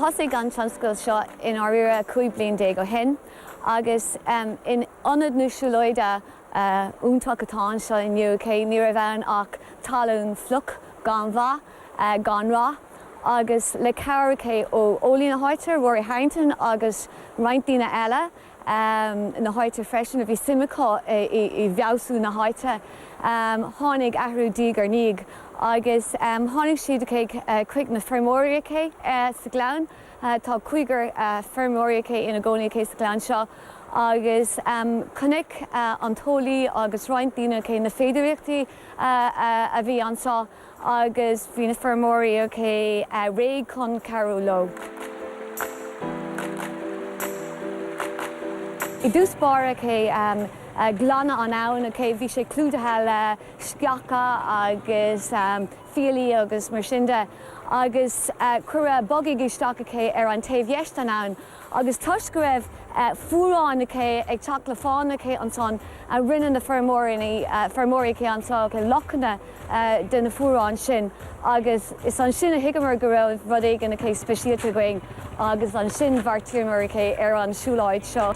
Thosaigh an tionscadal seo i ndáiríre 15 bliain ó shin agus in ionad na siúlóide iontach atá anseo inniu. Ní raibh ann ach talún fliuch gan mhaith gan rath agus le cabhair ó eolaí na háite, Rory Harrington agus roinnt daoine eile na háite freisin a bhí suim acu i bhfeabhsú na háite, tháinig athrú diaidh ar ndiaidh agus tháinig siad chuig na feirmeoirí sa ghleann. Tá cúigear feirmeoirí aici ina gcónaí aici sa gleann seo agus chonaic an t-eolaí agus roinnt daoine aici na féidearthachtaí a bhí anso agus bhí na feirmeoirí aici réidh chun cabhrú leo. I dtús báire aici glanadh an abhainn aici, bhí sé clúdaithe le sceacha agus. fiailí agus mar sin de agus cuireadh bogaigh isteach aici ar an taobh dheis den abhainn agus toisc go raibh fuaráin aici ag teacht le fána aici ansan rinne na feirmeoirí aici anso aici lochanna de na fuaráin sin agus is ansin a thuigeamar go raibh rud éigin aici speisialta againn agus ansin bheartaíomar aici ar an siúlóid seo.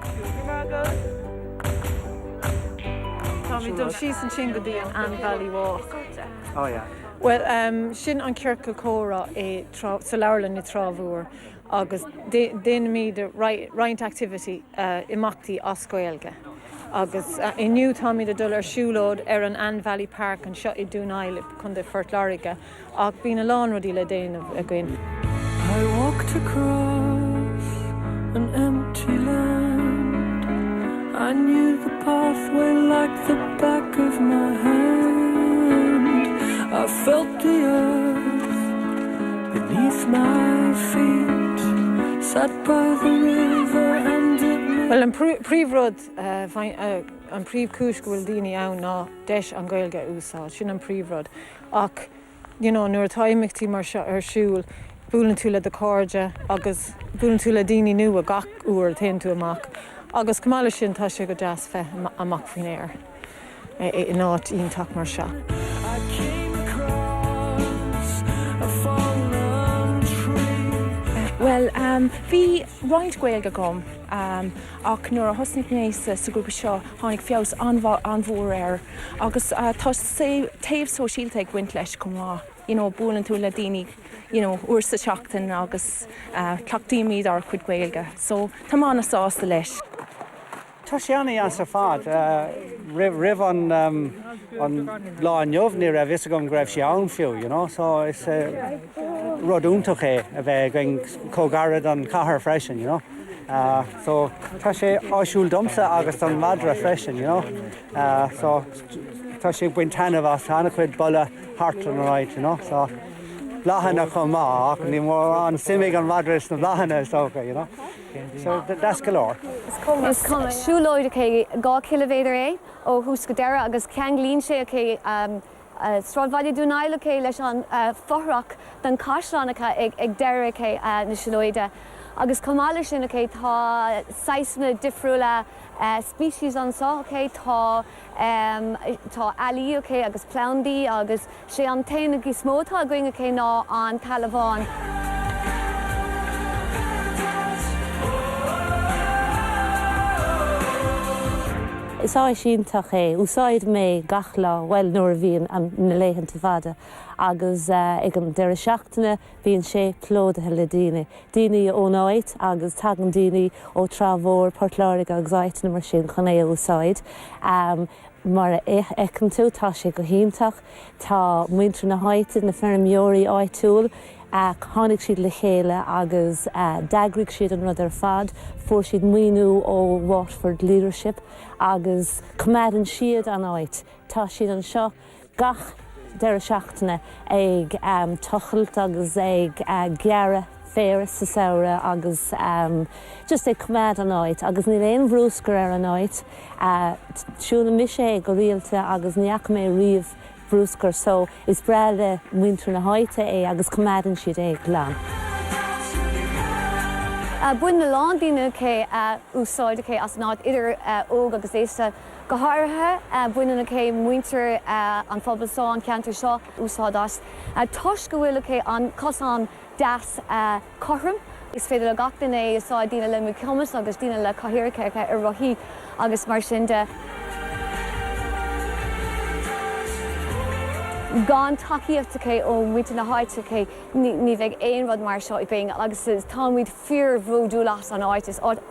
Táimid dul síos ansin go dtí an Anne Valley Walk. Bhuel, sin an ciorcal comhrá sa leabharlann i dTrá Mhór agus déanaimid roinnt activity, imeachtaí as Gaeilge. Agus inniu táimid ag dul ar siúlóid ar an Anne Valley Park anseo i Dún Aill, Co. Phort Láirge ach bíonn a lán rudaí le déanamh. Bhuel, an príomhrud, an príomhchúis go bhfuil daoine ann ná deis an Ghaeilge a úsáid, sin an príomhrud ach, you know nuair atá imeachtaí mar seo ar siúl buaileann tú le do chairde agus buaileann tú le daoine nua gach uair a théann tú amach agus chomh maith leis sin tá sé go deas bheith amach faoin aer in áit iontach mar seo. Bhuel bhí roinnt Gaeilge agam ach nuair a thosnaigh mé sa ghrúpa seo tháinig feabhas an-mhór air. Agus tá taobh sóisialta ag baint leis chomh maith, you know buaileann tú le daoine you know uair sa tseachtain agus cleachtaímid ár gcuid Gaeilge so táim an-sásta leis. Tá sé an-dheas ar fad. Roimh an lá inniu ní raibh fhios agam go raibh sé ann fiú you know so is rud iontach é a bheith againn chomh gairid don chathair freisin you know so tá sé áisiúil domsa agus don mhadra freisin you know. so tá sé ag baint taitneamh as ana-chuid boladh thart in a roinnt, you know, so bláthanna chomh maith ach níl mórán suim ag an madra sna bláthanna is dócha, you know, so deas go leor. Is siúlóid okay dhá chiliméadar é ó thús go deireadh agus ceanglaíonn sé okay sráidbhaile Dún Aill okay leis an fothrach den chaisleán okay ag deireadh okay na siúlóide agus chomh maith leis sin okay tá saghsanna difriúla species anso okay. Tá tá ealaí okay agus plandaí agus sé an t-éan is mó atá againn okay ná an t-eala bhán. Is áis iontach é. Úsáidim é gach lá, bhuel nuair a bhíonn na laethanta fada agus ag an deireadh seachtaine bíonn sé plódaithe le daoine. Daoine ón áit agus tagann daoine ó Trá Mhór, Port Láirge agus áiteanna mar sin chun é a úsáid. Mar a fheiceann tú tá sé go hiontach. Tá muintir na háite, na feirmeoirí áitiúil, tháinig siad le chéile agus d'eagraigh siad an rud ar fad. Fuair siad maoiniú ó Waterford Leadership agus coimeádann siad an áit. Tá siad anseo gach deireadh seachtaine ag tochailt agus ag gearradh féir sa samhradh agus just ag coimeád an áit. Agus níl aon bhruscar ar an áit. Siúlann mise é go rialta agus ní fhaca mé riamh bruscar so is breá le muintir na háite é agus coimeádann siad é glan. Baineann a lán daoine okay úsáid okay as an áit idir óg agus aosta. Go háirithe baineann okay muintir an phobail so an ceantar seo úsáid as toisc go bhfuil okay an cosán deas cothrom. Is féidir le gach duine é a úsáid, daoine le míchumas agus daoine le cathaoireacha ar rothaí agus mar sin de. Gan tacaíocht okay ó mhuintir na háite okay ní bheadh aon rud mar seo i bhfeidhm agus táimid fíorbhródúil as an áit. Is áit